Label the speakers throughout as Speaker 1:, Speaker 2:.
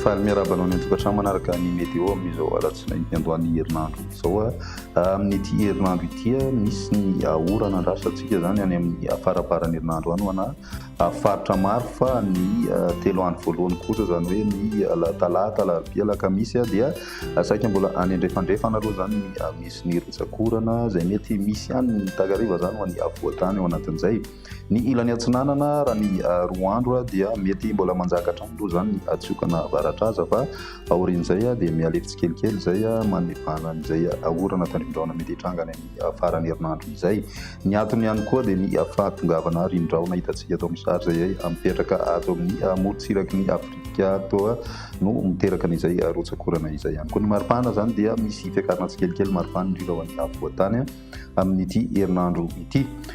Speaker 1: Faly miarahaba anao ny an-tokantrano manaraka ny météo amin'izao alatsinainy hiandohan'ny herinandro izao. Ah, amin'ity herinandro ity, ah, misy ny orana andrasantsika izany any amin'ny faramparan'ny herinandro any ho anà. Avy faritra maro fa ny telo andro voalohany kosa izany hoe ny talata, alarobia, alakamisy dia saika mbola any andrefandrefana aloha izany misy ny rotsak'orana izay mety misy ihany ny takariva izany ho an'ny afovoan-tany ao anatin'izay. Ny ilany atsinanana raha ny roa andro dia mety mbola manjaka hatrany aloha izany ny hatsiokana avaratr'aza fa aorian'izay dia mihalefy tsikelikely izay manivàna an'izay orana tandrifin-drahona mety hitranga any amin'ny faran'ny herinandro izay. Ny antony ihany koa dia ny fahatongavana rindraona hitantsika eto amin'ny sary izay mipetraka ato amin'ny morontsiraky ny Afrika ato no miteraka an'izay rotsak'orana izay ihany koa. Ny maripana izany dia misy fiakarana tsikelikely maripana indrindra ho an'ny afovoantany amin'ity herinandro ity.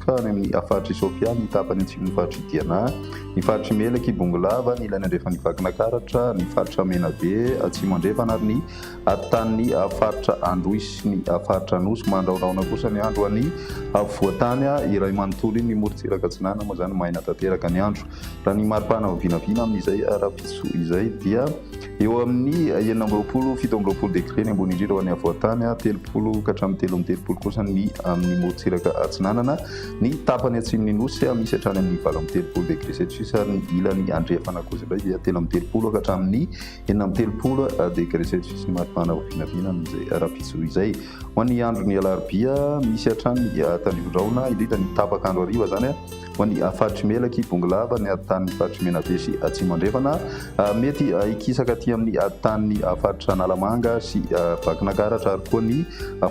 Speaker 1: fa any amin'ny faritr'i Sofia, ny tapany atsimon'ny faritr'i Diana, ny faritr'i Melaky, Bongolava, ny ilany andrefan'i Vakinakaratra, ny faritra Menabe, atsimo andrefana, ary ny afotanin'ny faritra Androy sy ny faritra Anosy. Mandraoraona kosa ny andro any afovoan-tany iray manontolo iny, ny morontsiraka atsinanana, moa izany maina tanteraka ny andro. Raha ny mari-pana vinavina amin'izay ara-pitsopitoana izay dia. Eo amin'ny enina amby roapolo, fito amby roapolo degre ny ambony indrindra ho an'ny afovoan-tany, telopolo ka hatramin'ny telo amby telopolo kosa ny amin'ny morontsiraka atsinanana. Ny tapany atsimon'ny Nosy misy hatrany amin'ny valo amby telopolo degre celsius ary ny ilany andrefana kosa indray dia telo amby telopolo ka hatramin'ny enina amby telopolo degre celsius ny maripana ho vinavina amin'izay rahampitso izay. Ho an'ny andron'ny alarobia, misy hatrany tandrifin-drahona, indrindra ny tapak'andro hariva izany. Ho an'ny faritry Melaky, Ibongolava, ny tanin'ny faritry Menabe sy Atsimo Andrefana, mety hikisaka aty amin'ny tanin'ny faritr'i Analamanga sy Vakinankaratra ary koa ny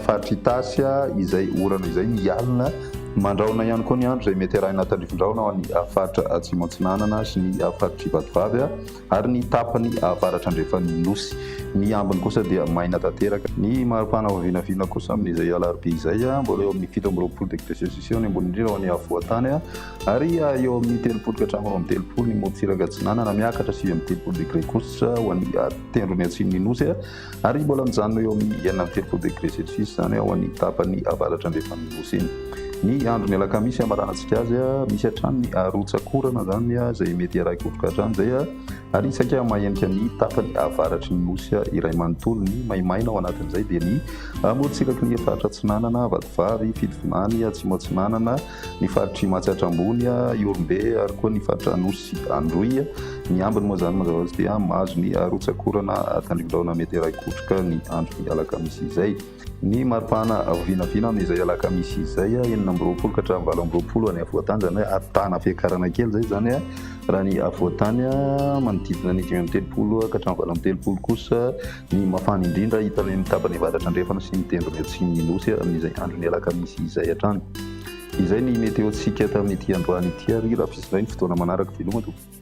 Speaker 1: faritry Itasy izay orana izay ny alina. Mandrahona ihany koa ny andro izay mety arahina tandrifin-drahona ho an'ny faritra Atsimo Atsinanana sy ny faritry Vatovavy. ary ny tapany avaratra-andrefan'ny Nosy. Ny ambiny kosa dia maina tanteraka. Ny mari-pana vao vinavina kosa amin'izay alarobia izay, mbola eo amin'ny fito amby roapolo degre celsius eo ny ambony indrindra ho an'ny afovoan-tany, ary eo amin'ny telopolo ka hatramin'ny roa amby telopolo ny morontsiraka atsinanana, miakatra sivy amby telopolo degre kosa ho an'ny tendron'ny atsimon'ny Nosy. Ary mbola mijanona eo amin'ny enina amby telopolo degre celsius izany ao amin'ny tapany avaratra andrefan'ny Nosy iny. Ny andron'ny alakamisy hamaranantsika azy, misy hatrany ny arotsak'orana izany izay mety hiarahi-kotroka hatrany izay ary saika mahenika ny tapany avaratry ny Nosy iray manontolo. Ny maimaina ao anatin'izay dia ny amorontsiraky ny faritra Atsinanana, Vatovavy, Fitovinany, Atsimo Atsinanana, ny faritr'i Matsiatra Ambony, Ihorombe ary koa ny faritra Anosy Androy. Ny ambiny moa izany mazava ho azy dia mahazo ny rotsakorana tandrivin-drahona mety iray kotroka ny andron'ny alakamisy izay. Ny mari-pahana vinavina amin'izay alakamisy izay, enina amby roapolo ka hatramin'ny valo amby roapolo any afovoan-tanjany, ary tahana fiakarana kely izay izany raha ny afovoan-tany, manodidina ny dimy amby telopolo ka hatramin'ny valo amby telopolo kosa Ny mafana indrindra hita any amin'ny tapany avaratra andrefana sy ny tendrony atsimon'ny Nosy amin'izay andron'ny alakamisy izay hatrany. Izay ny meteontsika tamin'ity androany ity ary rafisinay ny fotoana manaraka veloma tompoko.